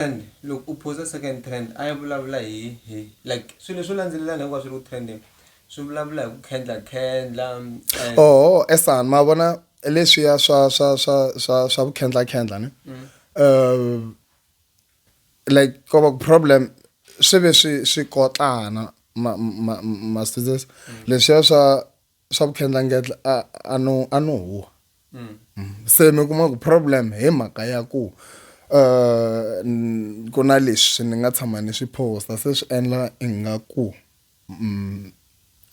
Trend loko u post second trend a yi vulavula hi hi like swilo leswo landzelelana hinkwaswo swi ri ku trending swi vulavula hi ku khendla khendla oho esan ma vona leswiya swa swa swa swa swa ku khendla khendla ne mm. uh, like ko va problem swi ve swi swi kotlana ma ma ma students mm. leswiya swa swa vutlhandlangetla a a no a no huwa mm. se mi kuma ku problem hi mhaka ya ku uh ku na leswi ni nga tshama ni swi posta se swi endla ingaku mm,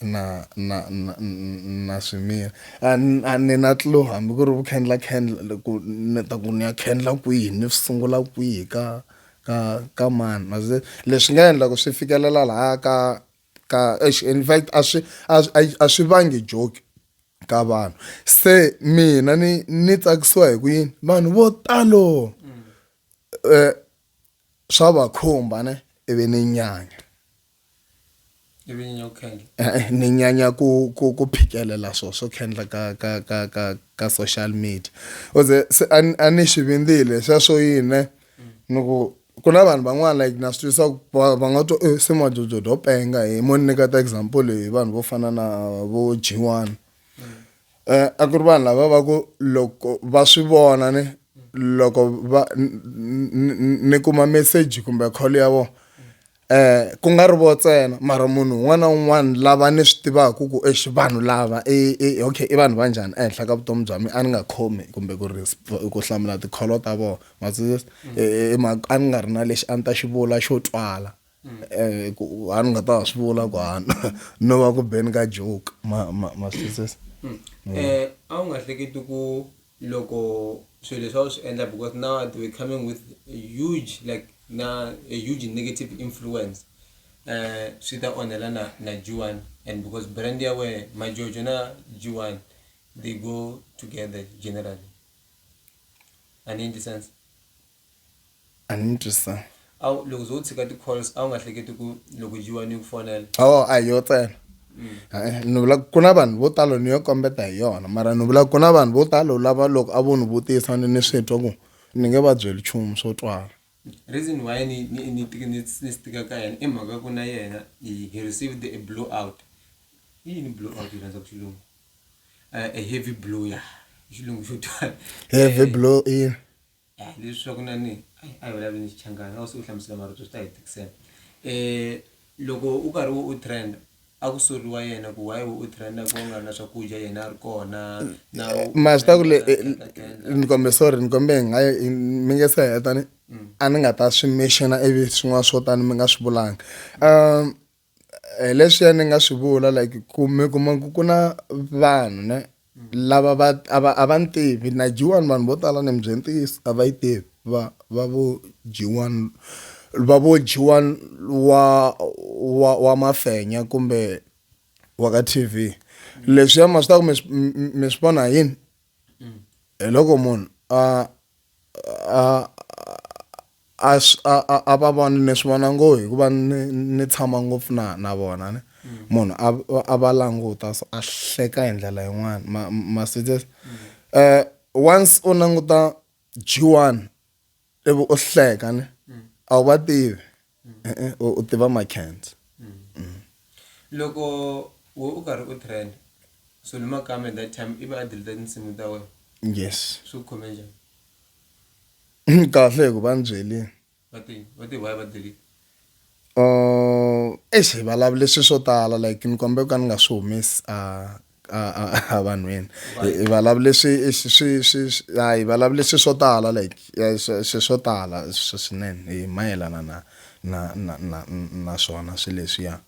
na na na na swimila a ni na tlo hambi ku ri vukhendla khendla loko ni ta ku ni ya khendla kwihi ni swi sungula kwihi ka ka ka mani leswi nga endla ku swi fikelela laha ka ka in fact a swi a swi vangi joke ka vanhu se mina ni ni tsakisiwa hi ku yini vanhu vo talo eh swa va khumba ne ivi ni nyanya ivi nyanya ku khendla eh, eh, ni nyanya ku ku ku phikelela swo swo khendla ka ka ka ka ka social media oze se a ni swi vindzile sweswo yini ni ku ku na vanhu van'wana like na swi twisa va nga to eh, se majojo do penga hi mo ni nyika ta example hi vanhu vo fana na vo g one um a ku ri vanhu lava va ku loko va swi vona ni loko va ni kuma message kumbe call ya vona Eh, ku nga ri vo tsena mara munhu un'wana na un'wana lava ni swi tivaka ku exi eh, vanhu lava e, e, okay i vanhu va njhani ehenhla ka vutomi bya mina a ni nga khomi kumbe ku ri ku hlamula tikholo ta vona matsundzuxi eh, a ni nga ri na lexi a ni ta xi vula xo twala um ku a ni nga ta wa swi vula ku a no va ku beni ka joke ma ma matsundzuxi um a wu nga hleketi ku loko swilo leswi a wu swi endla because now they were coming with a huge like na a huge negative influence uh, swi ta onhela na na G1 and because brand ya we majojo na G1 they go together generally ani endli sense A ni twisa. A wu loko zo u tshika ti calls a wu nga hleketi ku loko jiwa ni ku fonela. Oh a yo tsena. Eh, ni vula ku na vanhu vo talo ni yo kombeta hi yona mara ni vula ku na vanhu vo talo lava loko a vo ni vutisa ni ni swi twa ku ni nge va byeli nchumu swo twala reason why ni ni ni tika ni ni stika ka yena i mhaka ku na yena he received a blow out i yini blow out yi rhandza ku xilungu eh, a heavy blow ya xilungu xo twala heavy eh, blow in Eh, leswi swa ku na ni ayi a hi vulavuli ni xichangana a wu se u hlamusela marito swi ta hi tikisela um loko u karhi u u trenda a ku soriwa yena ku why u trenda ku nga ri na swakudya yena a ri kona na u- ma swi ta ku le na- eh, na- na- tenda. ni kombe sorry ni kombe hi nga hi- mi nge se heta ni a ni nga ta swi mexena ivi swin'wana swo tani mi nga swi vulanga um hi leswiya ni nga swi vula like ku mi kuma ku ku na vanhu ne lava va a va a va ni tivi na G1 vanhu vo tala ni mi byela ntiyiso a va yi tivi va va vo G1 va vo G1 wa wa wa mafenya kumbe wa ka T_V leswiya ma swi tiva ku mi swi mi- mi- mi swi vona hi yini hi loko munhu a a a a a a va vona ni swi vona ngo hikuva ni ni tshama ngopfu na na vona ni mm. munhu a a va languta so a hleka hi ndlela yin'wana ma ma sitses mm. eh once u languta G1 ivi u hleka ni mm. a wu va tivi eh, eh, u tiva makhentsa loko wo u karhi u trend so ni makame that time ivi a delete tinsimu ta wena yes swi khome njhani kahle hi ku va ni byeli um eish hi vulavule swilo swo tala like ni kombela ku ka ni nga swi humesi a a vanhwini hi vulavule swi swi swi hi vulavule swilo swo tala like swilo swo tala swinene hi mayelana na na na na na swona swilo leswiya.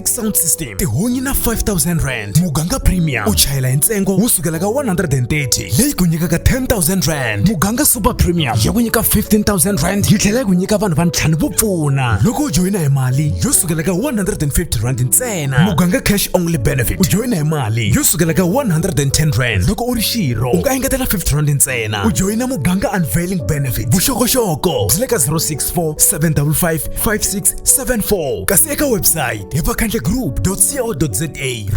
sound system tihunyi na 5000 rand muganga premium u chayela hi ntsengo wo sukela ka 130 leyi ku nyikaka 10000 rand muganga super premium ya ku nyika 15000 rand yi tlhela yi ku nyika vanhu va ntlhanu vo pfuna loko u joyina hi mali yo sukela ka 150 rand ntsena muganga cash only benefit u joyina hi mali yo sukela ka 110 rand loko u ri xirho u nga engetela 50 rand ntsena u joyina muganga unveiling benefit vuxokoxoko byi le ka 064 755 56 74 kasi eka website hi vakhandlegroup.co.za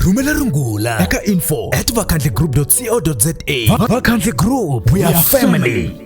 rhumela rungula eka info at vakhandlegroup.co.za vakhandle group we are family